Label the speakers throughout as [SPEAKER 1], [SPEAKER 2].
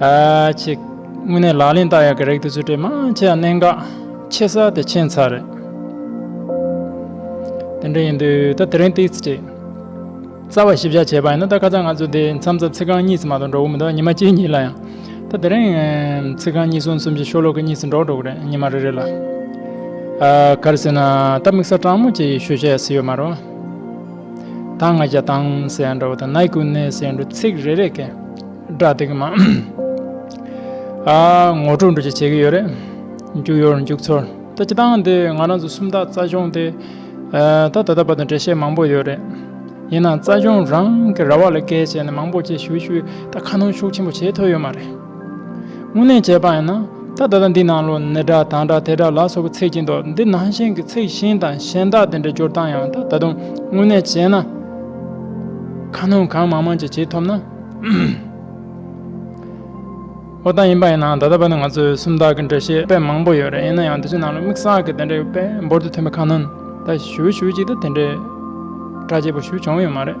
[SPEAKER 1] གཅིག། དངོས་གནས་ལག་ལེན་བསྟར་ཡག་གི་རེག་དུ་ཚུལ་ཁྲིམས་མང་ཆེ་ཡང་གནད་འགག་ཆེ་ས་དེ་མཁྱེན་ཚར་རེད། དེ་འདྲ་ཡིན་དུས་ད་དེ་རིང་ཏིག་ཅིག་རྩ་བ་ཞིབ་བཞག་བྱས་པ་ཡིན་ན་ད་ཁ་ཚ་ང་ཚོ་དེ་མཚམས་རྩ་ཚིག་རྐང་གཉིས་སུ་མ་གཏོགས་འགྲོ་གི་མི་འདུག་ཉི་མ་གཅིག་གཉིས་ལ་ཡང་ད་དེ་རིང་ཚིག་རྐང་གཉིས་གསུམ་གསུམ་གྱི་ཤོ་ལོ་ཀ་གཉིས་སུ་འགྲོ་འགྲོ་གི་རེད་ཉི་མ་རེ་རེ་ལ། ག་རེ་ཟེར་ན་ད་དམིགས་ས་སྤྲང་མོ་ཅིག་ཤོད་བྱས་ཟིན་ཡོད་མ་རུང། དང་ང་རྒྱལ་དང་སེ་འདྲ་བོ་དང་ནའི་ཀུན་ནའི་སེ་འདྲུ་ཚིག་རེ་རེ་ཀའི་སྒྲ་དེ་གི་མ་ངོ་སྤྲོད་འགྲོ་ཅི་བྱེད་ཀྱི་ཡོད་རེད། མཇུག་ཡོར་མཇུག་ཚོར་ད་ཅི་ཐང་དེ་ང་རང་ཚོ་སུམ་རྟགས་རྩ་གཞུང་དེ་ད་ད་ལྟ་བར་དུ་འགྲེལ་བཤད་མང་པོ་ཡོད་རེད། ཡིན་ནའང་རྩ་གཞུང་རང་གི་ར་བ་ལ་བཀལ་བྱས་ནས་མང་པོ་བཅས་ཞུ་ཞུ་ད་ཁ་སྣོན་ཤུགས་ཆེན་པོ་བྱེད་ཐུབ་ཡོད་མ་རེད། དངོས་གནས་བྱས་པ་ཡིན་ན་ད་ལྟ་འདི་ནང་ལོ་ནི་འདྲ་ད་འདྲ་དེ་འདྲ་ལ་སོགས་པའི་ཚིག་གི་མདོ་འདི་ནང་བཞིན་གྱི་ཚིག་ཤིང་དང་གཞན་དག་དེ་འདྲའི་སྦྱོར་སྟངས་ཡང་ད་དུང་དངོས་གནས་བྱས་ན། ཁ་སྣོན་གང་མང་མང་ཅིག་བྱེད་ཐུབ་ན། འོ་ད་ཡིན་པ་ཡིན་ནའང་ད་ལྟ་བར་དུ་ང་ཚོས་སུམ་རྟགས་ཀྱི་འགྲེལ་བཤད་དཔེ་མང་པོ་ཡོད་རེད་ཡིན་ན་ཡང་དེ་ཚོའི་ནང་ལ་དམིགས་བསལ་གྱི་དེ་འདྲའི་དཔེ་འབོར་དུ་ཐོན་པའི་ཁ་སྣོན་ད་ཞུ་ཞུ་ཅིག་ད་དེ་འདྲའི་གྲ་རྒྱས་པོ་ཞུ་བྱུང་ཡོད་མ་རེད།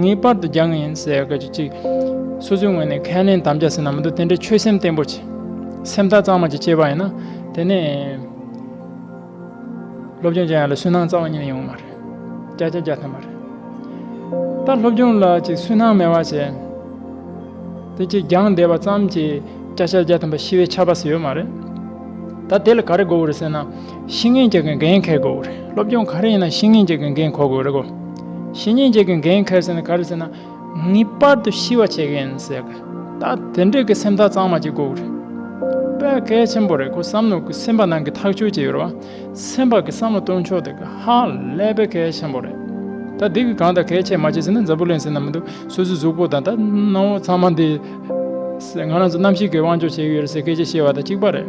[SPEAKER 1] ངེས་པར་དུ་སྦྱང་ངེས་ཡིན་ཟེར་སྐད་ཅིག་གཅིག། སོ་སོའི་ངོས་ནས་ཁས་ལེན་དམ་བཅའ་ཟེར་ན་མི་འདུག་དེ་འདྲའི་ཆོད་སེམས་བརྟན་པོ་བྱེད། སེམས་ཐག་གཙང་མ་ཅིག་བཅད་པ་ཡིན་ན། དེ་ནས། སློབ་སྦྱོང་བྱེད་ཡག་ལ་སུན་སྣང་རྩ་བ་ཉིད་ནས་ཡོང་བ་མ་རེད། བསྐྱར་བྱ་བརྒྱ་ཐམ་པ་རེད། ད་སློབ་སྦྱོང་ལ་ཅིག་སུན་སྣང་མེད་པ་བྱས། དེ་ཅིག་སྦྱངས་བསྡད་པ་ཙམ་གྱིས་བསྐྱར་བྱ་བརྒྱ་ཐམ་པ་ཤི་བའི་ཆ་བབས་སུ་ཡོད་མ་རེད། ད་དེ་ལ་ག་རེ་དགོས་པ་རེད་ཟེར་ན། ཤིང་ངན་བཅས་ཀྱི་འགན་འཁེར་དགོས་རེད་སློབ་སྦྱོང་ག་རེ་ཡིན་ན་ཤིང་ངན་བཅས་ཀྱི་འགན་འཁོར་དགོས་རེད་གོ། ཤིང་ངན་བཅས་ཀྱི་འགན་འཁེར་ཟེར་ན་ག་རེ་ཟེར་ན། ངེས་པར་དུ་ཤི་བ་བྱེད་ཀྱི་ཡིན་ཟེར་གི། ད་དེ་འདྲས་ཀྱི་སེམས་ཐག་གཙང་མ་གཅིག་དགོས་རེད། དཔེ་གལ་ཆེན་པོ་རེད་ཁོ་བསམ་ནོ་གི་སེམས་པ་ནང་གི་ཐག་ཆོད་ཅིག་ཡོད་རེད་བ། སེམས་པ་གི་བསམ་བློ་གཏོང་ཕྱོགས་དེ་གི་ཧ་ལས་དཔེ་གལ་ཆེན་པོ་རེད། ད་འདི་གི་གང་དང་གལ་ཆེ་མ་ཆེ་ཟེར་ན་འཛམ་བུ་གླིང་ཟེར་ན་མི་འདུག་སོ་སོའི་གཟུགས་པོ་དང་ད་སྣང་བོ་ཚང་མ་འདི། ང་རང་ཚོ་གནམ་གཤིས་ཀྱི་དབང་ཆོག་བྱེད་ཀྱི་ཡོད་རེད་ཟེར་སྐད་ཆ་བཤད་བ་དང་གཅིག་པ་རེད།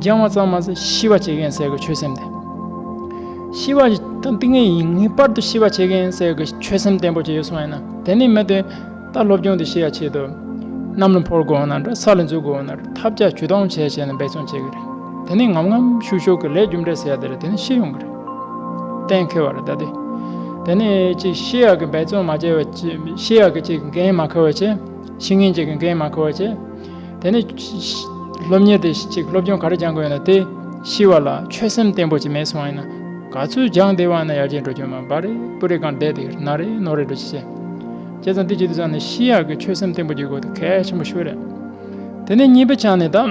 [SPEAKER 1] སྦྱང་བ་ཙམ་མ་ཟད་ཤི་བ་བྱེད་མཁན་ཟེར་གི་ཆོད་སེམས་ལྡན། ཤི་བ་དང་ཏིང་ངེ་ཡིན་ངེས་པར་དུ་ཤི་བ་བྱེད་མཁན་ཟེར་གི་ཆོད་སེམས་བརྟན་པོ་བྱེད་ཡོད་གསུངས་ཡོད་ན་དེ་ནི་མི་དེ་ད་སློབ་སྦྱོང་དེ་ཤི་ཡ་ཆེད་དུ་གནམ་ལ་འཕུར་དགོས་ན་འདྲ་ས་ལ་འཛུལ་དགོས་ན་འདྲ་ཐབས་བརྒྱ་ཇུས་སྟོང་བྱས་བྱས་ནས་འབད་བརྩོན་བྱེད་གི་རེད་དེ་ནི་ངམ་ངམ་ཤུགས་ཤུགས་ཀྱི་ལས་རྒྱུ་འབྲས་ཟེར་ཡ་དེ་རེད་དེ་ནི་ཤི་ཡོང་གི་རེད་གཏན་འཁེལ་བ་རེད་ད་དེ་དེ་ནི་ཅིག་ཤི་ཡ་གི་འབད་བརྩོན་མ་བྱས་པ་ཤི་ཡ་གི་ཅིག་འགན་མ་ཁུར་བ་བྱས་ཤི་ངན་ཅིག་གི་འགན་མ་ཁུར་བ་བྱས། དེ་ནས། སློབ་གཉེར་དེ་གཅིག་སློབ་སྦྱོང་ག་རེ་སྦྱང་དགོས་ཡིན་ལ་དེ། ཤི་བ་ལ་ཆོད་སེམས་བརྟན་པོ་ཅིག་མེད་སོང་ཡིན་ན། ག་ཚོད་སྦྱང་བདེ་བ་ཡིན་ན་ཡར་རྒྱས་འགྲོ་རྒྱུ་མང་བ་རེད་སྤུ་རེ་གང་བསྡད་དེ་ན་རེ་ནོར་རེ་འགྲོ་ཅི་བྱེད། བྱས་ཙང་དེ་བྱེད་དུས་ཙང་ནས་ཤི་ཡག་གི་ཆོད་སེམས་བརྟན་པོ་རྒྱུག་དགོས་དེ་གལ་ཆེན་པོ་ཤོས་རེད། དེ་ནས་གཉིས་པ་ཅང་ནས་ད།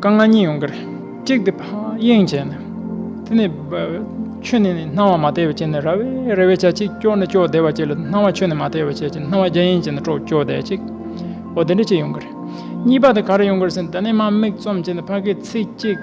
[SPEAKER 1] རྐང་ལྔ་གཉིས་ཡོང་གི་རེད། གཅིག་དེ་གཡེང་བྱས་ནས། དེ་ནས། ཆོས་ནི་སྣང་བ་མ་བལྟས་པའི་ཕྱིར་ནི་ར་བའི་རེ་བའི་ཆ་གཅིག་སྐྱོ་ནི་སྐྱོ་བདེ་བ་གཅིག་ལ་སྣང་བ་ཆོས་ནི་མ་བལྟས་པའི་ཆ་གཅིག་སྣང་བ་རྒྱ་ཡན་གཅིག་ནི་སྐྱོ་བདེ་བ་གཅིག་གོ། དེ་འདྲ་གཅིག་ཡོང་གི་རེད། གཉིས་པ་དེ་ག་རེ་ཡོང་གི་རེད་ཟེར་ནས་དེ་ནས་དམའ་མིག་བཙུམ་བྱས་ནས་ཕ་གིའི་ཚིག་གཅིག།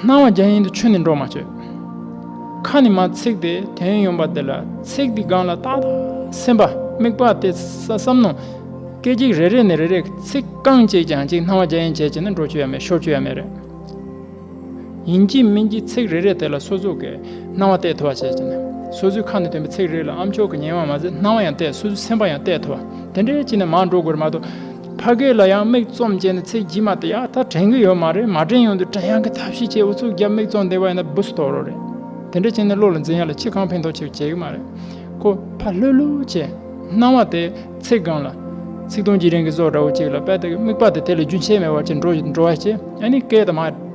[SPEAKER 1] སྣང་བ་རྒྱ་ཡན་དུ་ཆུད་ནས་འགྲོ་མ་བཅོས། ཁ་ནི་མ་ཚིག་སྟེ་དོན་ཡོང་པ་འདི་ལ་ཚིག་འདི་སྒང་ལ་བཏགས་ལ་སེམས་པ་དམིགས་པ་སྟེ་ས་བསམ་ནོ། སྐད་ཅིག་རེ་རེ་ནས་རེ་རེ་ཚིག་རྐང་བཅད་ཀྱང་ཅིག་སྣང་བ་རྒྱ་ཡན་བྱས་བྱས་ནས་འགྲོ་བཅོས་ཡ་མེད་ཤོར་བཅོས་ཡ་མེད་རེད། ཡིན་གྱི་མིན་གྱི་ཚིག་རེ་རེ་དེ་ལ་སོ་ཚུགས་ཀྱི་སྣང་བ་གཏད་ཐུབ་པ་བྱས་བྱས་ནས་སོ་ཚུལ་ཁ་ནས་དོན་པའི་ཚིག་རེ་རེ་ལ་ཨམ་ཆོག་གི་ཉེ་བ་མ་ཟད་སྣང་བ་ཡང་གཏད་སོ་ཚུལ་སེམས་པ་ཡང་གཏད་ཐུབ་པ་དེ་འདྲའི་ཅི་ནས་མང་འགྲོ་དགོས་རེད་མ་གཏོགས། ཕ་སྐད་ལ་ཡང་མིག་བཙུམ་བྱས་ནས་ཚེ་རྒྱུས་མ་དེ་ཡག་ཐག་དྲན་གི་ཡོད་མ་རེད་མ་དྲན་ཡོང་དུས་དྲན་ཡག་གི་ཐབས་ཤེས་བྱས་ཨུ་ཚུགས་རྒྱབ་མིག་བཙུམ་བསྡད་པ་ཡིན་ན་འབུ་སྲིད་དོགས་རོགས་རེད་དེ་འདྲ་བྱས་ནས་བློ་ལ་འཛིན་ཡག་ལ་ཁྱི་གང་ཕན་ཐོགས་ཆེར་བྱས་གི་མ་རེད་ཁོ་ཕ་ལྷོད་ལྷོད་བྱས། སྣང་བ་དེ་ཚེ་སྒང་ལ། ཚིག་སྟོང་གྱི་རིང་གི་ཟོག་འདྲ་བོ་གཅིག་ལ་དཔལ་དེ་གི་དམིགས་པ་དེ་དེ་ལས་རྒྱུན་ཆད་མེད་བར་ཅི་འགྲོ་ཞིག་འགྲོ་བ་ཅི་ཨ་ནི་སྐད་དང་མ།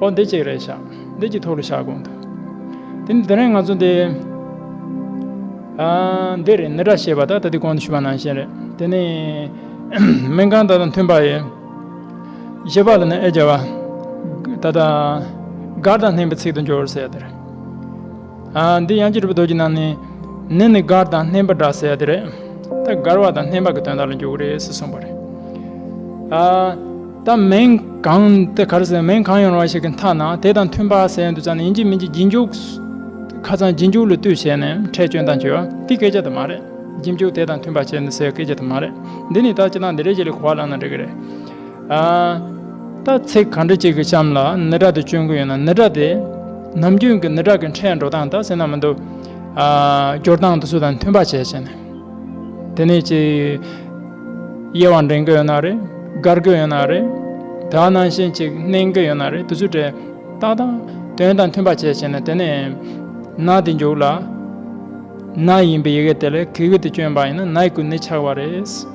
[SPEAKER 1] ཨོ་འདི་གཅིག་རེད་ཤག་འདི་གཅིག་ཐོག་ལ་ཤག་དགོངས་འདུག་དེ་ནི་དེ་རིང་ང་ཚོ་འདི། འདི་རེད་ནི་སྒྲ་ཞེས་པ་ད་ལྟ་འདི་གོང་དུ་ཞུས་པ་ནང་བཞིན་རེད་དེ་ནི། མིང་གང་དང་དང་མཐུན་པ་ཡིན། བཞི་པ་ལ་ནི་ཨེ་བྱ་བ། ད་ལྟ། མགར་དང་ལྷན་པའི་ཚིག་ཏུ་འབྱོར་ཟེར་དེར། འདི་དབྱངས་ཀྱི་རི་བོ་རྡོ་རྗེ་རྣམས་ནི། ནི་ནི་མགར་དང་སྣེན་པ་འདྲ་ཟེར་ཡ་དེ་རེད། ད་མགར་བ་དང་སྣེན་པ་གི་དོན་དག་ལ་འཇུག་རེས་གསུངས་པ་རེད། ད་མིང་གང་དེ་གར་ཟེར་མིང་གང་ཡོང་ར་བ་ཞིག་གི་མཐའ་ན་དེ་དང་མཐུན་པ་ཟེར་ཡ་འདུག་ཙང་ནི་ཡིན་གྱི་མིན་གྱི་རྗེས་འཇུག་ཁ་ཙང་རྗེས་འཇུག་ལ་ལྟོས་བྱས་ནས་ཁྲལ་བཅོན་དང་བྱོས་པ་དེ་སྐད་ཆ་དེ་མ་རེད་རྗེས་འཇུག་དེ་དང་མཐུན་པ་བྱས་ནས་ཟེར་བ་སྐད་ཆ་དེ་མ་རེད་འདི་ནི་ད་ཅི་ད་འདི་རེད་ཅེས་ལས་གོ་བ་ལངས་ན་འགྲིག་གི་རེད། ད་ཚེ་ག་འདྲ་ཅིག་གི་གཤམ་ལ་ནི་དྲག་དེ་སྤྱོད་མཁན་ཡོད་ན་ནི་དྲག་དེས་ནམ་རྒྱུན་གྱི་ནི་དྲག་གི་འཕྲལ་འགྲོ་སྟངས་དང་སེམས་ནང་མི་འདུག་སྐྱོར་སྟངས་དུ་སུ་དང་མཐུན་པ་བྱས་བྱས་ནས་དེ་ནས་ཅིག་དབྱེ་བ་འདྲེན་གི་ཡོད་ན་རེད་དགར་གི་ཡོད་ན་རེད་དག་ནང་བཞིན་ཅིག་གནན་གི་ཡོད་ན་རེད་དུ་སུ་དྲེད་སྟངས་དང་དོན་དང་མཐུན་པ་བྱས་བྱས་ནས་དེ་ནས་ན་དེ་མཇུག་ལ་ན་ཡིན་པའི་ཡི་གེ་དེ་ལས་གི་གི་དེ་སྤྱོད་པ་ཡིན་ན་ནའི་གུ་ནི་ཆགས་པ་རེད།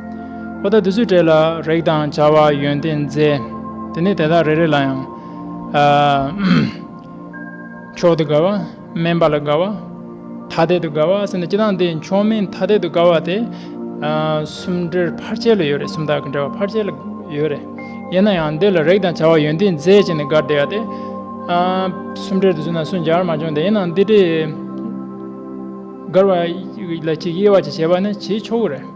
[SPEAKER 1] པོ་དང་དུས་ཚོད་སྤྲད་ལ་རེག་དང་བྱ་བ་ཡོན་ཏན་མཛེས། དེ་ནས་དེ་དག་རེ་རེ་ལ་ཡང། མཆོག་ཏུ་དགའ་བ། དམན་པ་ལ་དགའ་བ། ཐ་དད་དུ་དགའ་བ་ཟེར་ནས་སྤྱི་དང་དེ་མཆོག་དམན་ཐ་དད་དུ་དགའ་བ་སྟེ། གསུམ་འདྲེར་ཕར་ཆེར་ལ་ཡོད་རེད་གསུམ་དག་གི་འདྲེ་བ་ཕར་ཆེར་ལ་ཡོད་རེད། ཡིན་ན་ཡང་འདི་ལ་རེག་དང་བྱ་བ་ཡོན་ཏན་མཛེས་བྱས་ནས་དགའ་བདེ་བ་སྟེ། གསུམ་འདྲེར་དུ་ཟིན་ན་སུ་འཇར་མ་བྱུང་སྟེ་ཡིན་ན་འདི་འདྲའི། དགར་བ་ལ་གཅིག་དབྱེ་བ་གཅིག་བྱས་པ་ནི་བྱེད་ཆོག་གི་རེད།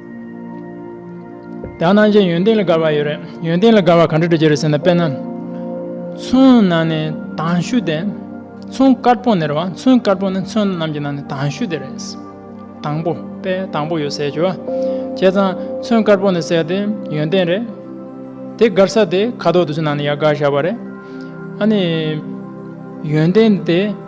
[SPEAKER 1] དག་སྣང་ཅན་ཡོན་ཏན་ལ་དགར་བ་ཡོད་རེད་ཡོན་ཏན་ལ་དགར་བ་ག་འདྲ་འདྲ་བྱེད་རེད་ཟེར་ན་དཔེར་ན། ཚོན་ནང་ནས་དྭངས་ཤུལ་དེ་ཚོན་དཀར་པོ་ནེར་བ་ཚོན་དཀར་པོ་ནི་ཚོན་རྣམས་ཀྱི་ནང་ནས་དྭངས་ཤུལ་དེ་རེད། དང་པོ་དཔེ་དང་པོ་ཡོད་ཟེར་གྱི་བ། བྱས་ཙང་ཚོན་དཀར་པོ་ནི་གསལ་ཏེ་ཡོན་ཏན་རེད། དེ་དགར་ས་དེ་ཁ་དོག་དུ་ཚོན་ནང་ནས་ཡར་དགར་བཞག་པ་རེད། ཨ་ནི། ཡོན་ཏན་དེ།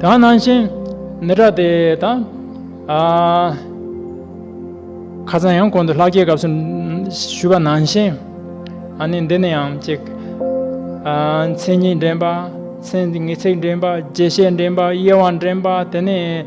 [SPEAKER 1] གང་ནང་བཞིན་ནི་སྒྲ་དེ་དང། ཁ་ཚང་ཡང་གོང་དུ་ལྷག་རྒྱའི་སྐབས་སུ་ཞུས་པ་ནང་བཞིན། ནི་འདི་ནི་ཡང་གཅིག། མཚན་ཉིད་འདྲེན་པ། མཚན་ཉིད་ཚིག་འདྲེན་པ། རྗེས་ཤེས་འདྲེན་པ། དབྱེ་བ་འདྲེན་པ། དེ་ནས།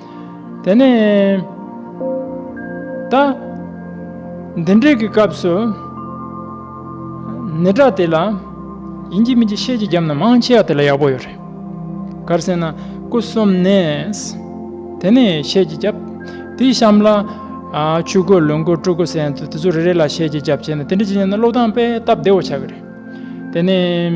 [SPEAKER 1] དེ་ནས་ད། འདི་འབྲས་ཀྱི་སྐབས་སུ། ནི་སྒྲ་དེ་ལ། ཡིན་གྱི་མིན་གྱི་ཤེས་ཀྱི་རྒྱབ་ན་མང་ཆེ་བ་དེ་ལ་ཡག་པོ་ཡོད་རེད། གར་སེ་ན་སྐུ་གསུམ་ནས། དེ་ནས་ཤེས་ཀྱི་རྒྱབ། དེའི་གཤམ་ལ། ཆུ་དགོས་ལུང་དགོས་ཀྲུ་དགོས་ཟེར་ཡང་དེ་ཚོ་རེ་རེ་ལ་ཤེས་ཀྱི་རྒྱབ་བྱས་ནས་དེ་འདྲ་ཅིག་བྱས་ན་བློ་བདང་དཔེ་སྟབས་བདེ་བོ་ཆགས་ཀྱི་རེད། དེ་ནས།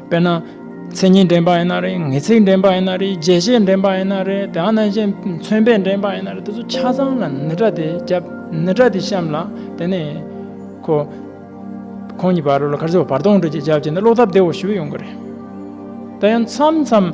[SPEAKER 1] དཔེར་ན། མཚན་ཉིད་འདྲེན་པ་ཡིན་ན་རེད་ངེས་ཚིག་འདྲེན་པ་ཡིན་ན་རེད་རྒྱས་བཤད་འདྲེན་པ་ཡིན་ན་རེད་དེའང་རྣམ་དབྱེ་མཚོན་དཔེ་འདྲེན་པ་ཡིན་ན་རེད་དེ་ཚོ་ཆ་ཚང་ལ་ནི་སྒྲ་དེ་བརྒྱབ་ནི་སྒྲ་དེ་བཤམས་ལ་དེ་ནས། ཁོ། ཁོང་གཉིས་བར་ལ་ཁར་ཟེར་བ་བར་སྟོང་སྒྲིལ་གྱི་རྒྱབ་ཀྱི་ནི་བློ་སྟབས་བདེ་བོ་ཞིག་ཡོང་གི་རེད། དེ་ཡང་མཚམས་མཚམས།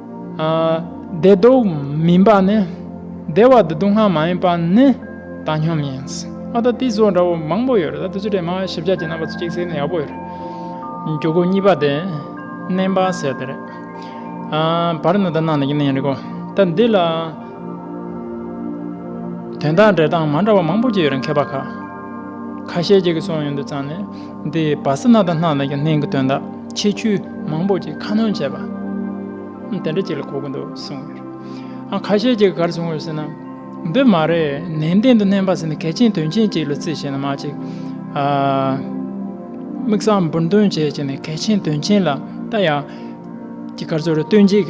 [SPEAKER 1] བདེ་སྡུག་མིན་པ་ནི། བདེ་བ་བདེ་སྡུག་སྔ་མ་ཡིན་པ་ནི་བཏང་སྙོམས་ཡིན། ཨ་ད་དེ་ཟོ་འདྲ་བོ་མང་པོ་ཡོད་རེད་ད་དེ་ཚོ་དྲན་མ་ཞིབ་ཆ་གྱི་རྣམ་པ་ཚོ་གཅིག་གསལ་ན་ཡག་པོ་ཡོད་རེད། འགྱུར་ཁུག་གཉིས་པ་དེ་བསྣན་པ་ཟེར་དེ་རེད། བར་ནི་ད་ནང་ནས་ཀྱི་གནས་རེད་གོ། ད་འདི་ལ། དོན་དག་འགྲེལ་སྟངས་མ་འདྲ་བ་མང་པོ་གྱི་ཡོད་རེད་མཁས་པ་ཁ། ཁ་ཤས་ཀྱི་གི་སོང་ཡོད་འདུག་ཙང་ནས། འདི་བ་སེ་ན་དང་སྣ་ནག་གི་སྣེན་གྱི་དོན་དག་ཆེ་ཆུ་མང་པོ་ཅིག་ཁ་སྣོན་བྱས་པ། དེ་འདྲ་ཅིག་ལ་གོ་གི་འདུག་གསུངས་ཡོད་རེད། ཁ་ཤས་ཀྱིས་ག་རེ་གསུངས་ཡོད་ཟེར་ན། འདི་མ་རེད་ནན་ཏན་དུ་སྣེན་པ་ཟེར་ནི་གལ་ཆེན་དོན་ཆེན་ཅིག་ལ་རྩིས་བྱས་ན་མ་གཅིག། དམིགས་བསལ་འབུར་འདོན་བྱས་བྱས་ནས་གལ་ཆེན་དོན་ཆེན་ལ་ལྟ་ཡག། ཀྱི་གར་སོགས་རེ་སྟོན་ཅིག།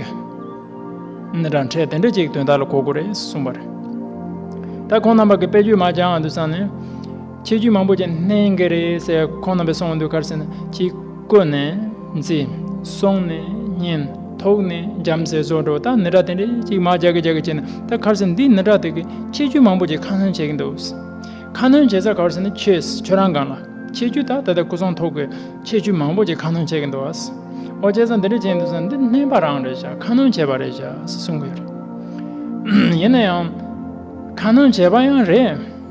[SPEAKER 1] ནི་རང་འཕྲད་དེ་འདྲ་ཅིག་དོན་དག་ལ་གོ་དགོས་རེད་གསུངས་པ་རེད། ད་ཁོང་རྣམ་པ་གི་དཔེ་བརྗོད་མ་སྦྱང་འང་འདུག་བསམ་ནས། ཆོས་བརྒྱུད་མང་པོ་ཅན་གནས་འགའ་རེ་སའི་ཁོངས་རྣམ་པའི་སྲོང་བ་འདུལ་ཁར་སེང་གཅིག་བཀོད་ནས་འཛི། སོང་ནས་གཉན། ཐོག་ནས་འཇམ་ཟེར་སོགས་འགྲོ་སྟངས་ནི་དྲ་དེ་འདྲས་གཅིག་མ་རྒྱག་གི་རྒྱག་གི་བྱས་ནས་ད་ཁར་སེང་འདི་ནི་དྲ་དེ་གི་ཆོས་བརྒྱུད་མང་པོ་ཅན་ཁ་སྣོན་བྱེད་ཀྱི་འདུག་ཁ་སྣོན་བྱེད་ས་གར་སེང་ནི་ཁྱོད་ཁྱོད་རང་སྒང་ལ་ཆོས་བརྒྱུད་དག་ད་ལྟ་སྐུ་ཚོང་ཐོག་གི་ཆོས་བརྒྱུད་མང་པོ་ཅན་ཁ་སྣོན་བྱེད་ཀྱི་འདུག་ཨོ་བྱས་ས་འདི་འདྲས་བྱས་འདུག་ས་འདི་སྨན་པ་རང་རེད་ཤག་ཁ་སྣོན་བྱས་པ་རེད་ཤག་གསུང་གི་ཡོད་རེད། ཡིན་ན་ཡང། ཁ་སྣོན་བྱས་པ་ཡང་རེད།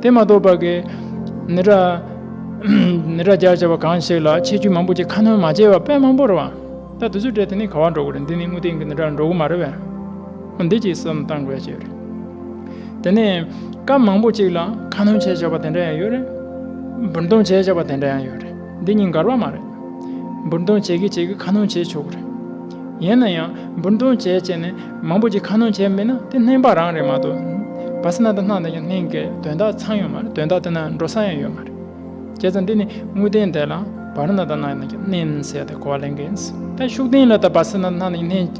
[SPEAKER 1] དེ་མ་གཏོགས་པར་གྱི། ནི་ར། ནི་ར་སྦྱར་བྱ་བ་གང་ཞིག་ལ་ཆེ་ཆུང་མང་པོ་ཅི་ཁ་སྣོན་མ་བྱས་པར་དཔེ་མང་པོ་རེ་བ། ད་དུ་ཚོད་དྲེད་དེ་ནི་ག་བར་འགྲོ་དགོས་རེད་འདི་ནི་དངོས་སྟེང་གི་ནི་ར་འགྲོ་དགོས་མ་རེད་བས། འོ་འདི་ཅིག་བསམ་བཏང་དགོས་ཞེས་རེད། དེ་ནས། སྐབས་མང་པོ་ཅིག་ལ་ཁ་སྣོན་བྱས་བྱ་བ་དེ་འདྲ་ཡང་ཡོད་རེད། འབུར་འདོམས་བྱས་བྱ་བ་དེ་འདྲ་ཡང་ཡོད་རེད། འདི་གཉིས་འགལ་བ་མ་རེད། འབུར་འདོན་བྱེད་ཀྱིས་བྱེད་ཀྱི་ཁ་སྣོན་བྱས་ཆོག་གི་རེད། ཡིན་ན་ཡང་འབུར་འདོན་བྱས་བྱས་ནས་མང་པོ་ཅིག་ཁ་སྣོན་བྱས་མེད་ན་དེ་སྣེངས་པ་རང་རེད་མ་གཏོགས། བ་སི་ན་ད་ནག་དང་ཀྱང་སྣེངས་ཀའི་དོན་དག་ཚང་ཡོད་མ་རེད་དོན་དག་དེ་ན་འགྲོ་ས་ཡང་ཡོད་མ་རེད། ཁྱེད་ཚོ་འདི་ནི་དངོས་བདེན་དེ་ལ་བ་རི་ན་ད་ནག་དང་ཀྱང་སྣེངས་ཟེར་ཏེ་གོ་བ་ལེན་གི་ཡིན། ད་ཤུགས་ལྡན་ལ་ད་བ་སི་ན་ད་ནག་དང་ཀྱང་སྣེངས་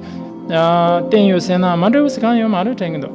[SPEAKER 1] བསྟན་ཡོད་ཟེར་ན་མ་འགྲིག་བ་ཞིག་གང་ཡོད་མ་རེད་དྲན་གྱི་འདུག།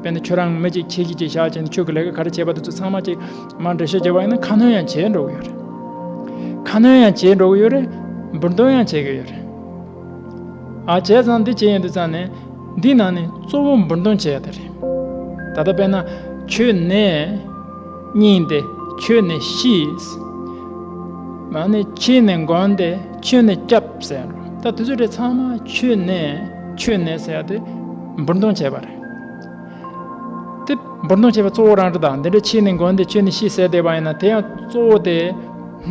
[SPEAKER 1] དཔེར་ན་ཁྱོད་རང་མི་གཅིག་ཁྱི་གཅིག་ཅེས་བྱ་བ་ཅན་དུ་ཁྱོད་ཀྱི་ལས་ཀ་ག་རེ་བྱས་པ་དེ་ཚོ་ཚང་མ་ཅིག་མར་འགྲེལ་བཤད་བྱེད་པ་ཡིན་ན་ཁ་སྣོན་ཡང་བྱེད་འགྲོ་གི་ཡོད་རེད། ཁ་སྣོན་ཡང་བྱེད་འགྲོ་གི་ཡོད་རེད། འབུར་འདོན་ཡང་བྱེད་ཀྱི་ཡོད་རེད། ཨ་བྱས་ཙང་འདི་བྱས་ཡིན་དུས་ཙང་ནས་འདིའི་ནང་ནས་གཙོ་བོ་འབུར་འདོན་བྱེད་ཡ་དེ་རེད། ད་ལྟ་དཔེར་ན་ཁྱོད་ནས་སྙིང་ཏེ་ཁྱོད་ནས་ཤིས། མ་ནས་ཁྱེད་ནས་འགོང་སྟེ་ཁྱོད་ནས་སྐྱབས་ཟེར་ཡ་འགྲོ། ད་དེ་ཚོ་དེ་ཚང་མ་ཁྱོད་ནས་ཁྱོད་ནས་ཟེར་ཡ་དེ་འབུར་འདོན་བྱས་པ་རེད། དེ་འབུར་མདོང་བྱེད་པའི་གཙོ་བོ་རང་རེ་དང་འདི་འདྲའི་ཕྱིས་ནས་མགོན་དེ་ཁྱོད་ནི་ཤི་ཟེར་བསྡད་པ་ཡིན་ན་དེ་ཡང་གཙོ་བོ་དེས་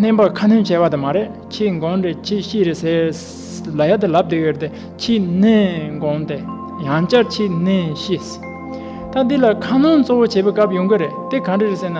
[SPEAKER 1] མནན་པར་ཁ་སྣོན་བྱས་པ་དེ་མ་རེད་ཁྱིའི་མགོན་རེད་ཁྱི་ཤི་རེད་ཟེར། ལ་ཡ་དེ་ལབ་བསྡད་ཡོད་དེ་ཁྱིའི་མནན་མགོན་དེ་ཡང་བསྐྱར་ཁྱིའི་མནན་ཤི། ད་འདི་ལ་ཁ་སྣོན་གཙོ་བོ་བྱེད་པའི་སྐབས་ཡོང་གི་རེད་དེ་ག་འདྲ་རེད་ཟེར་ན།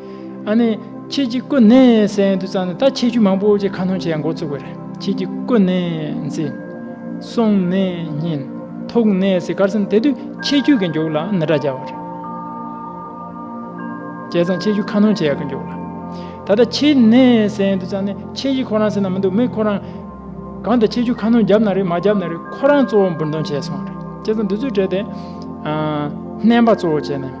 [SPEAKER 1] ཨ་ནི། ཁྱེད་ཀྱིས་ཀུན་ནས་གསན་དུ་བཅག་ནས་ད་ཁྱེད་ཆུ་མང་པོ་ཀྱི་ཁ་ནོན་བྱེད་ཡ་འགོ་བཙུགས་པ་རེད་ཁྱེད་ཀྱིས་ཀུན་ནས་འཛིན། སོང་ནས་ཉིན། ཐུག་ནས་ཟིག་གར་སོང་དེ་དུས་ཁྱེད་ཁྱུ་གི་མགྱོགས་ལ་ནི་སྒྲ་རྒྱག་པ་རེད། བྱས་ཙང་ཁྱེད་ཆུ་ཁ་ནོན་བྱེད་ཡ་གི་མགྱོགས་ལ། ད་ལྟ་ཁྱེད་ནས་གསན་དུ་བཅག་ནས་ཁྱེད་ཀྱིས་ཁོ་རང་སེམས་ན་མི་འདུག་མི་ཁོ་རང། གང་དུ་ཁྱེད་ཆུ་ཁ་ནོན་བརྒྱབ་ན་རེད་མ་བརྒྱབ་ན་རེད་ཁོ་རང་གཙོ་བོ་འབུར་འདོན་བྱས་སོང་རེད་བྱས་ཙང་དུས་ཚོད་སྤྲད་དེ། བསྣན་པ་གཙོ་བོ་བྱས་ནས།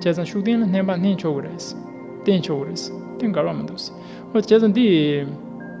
[SPEAKER 1] བྱས་ཙང་ཤུགས་ལྡན་ལ་བསྣན་པ་བསྣན་ཆོག་གི་རེད། བསྟེན་ཆོག་གི་རེད། དེ་འགལ་བ་མི་འདུག། བྱས་ཙང་འདི།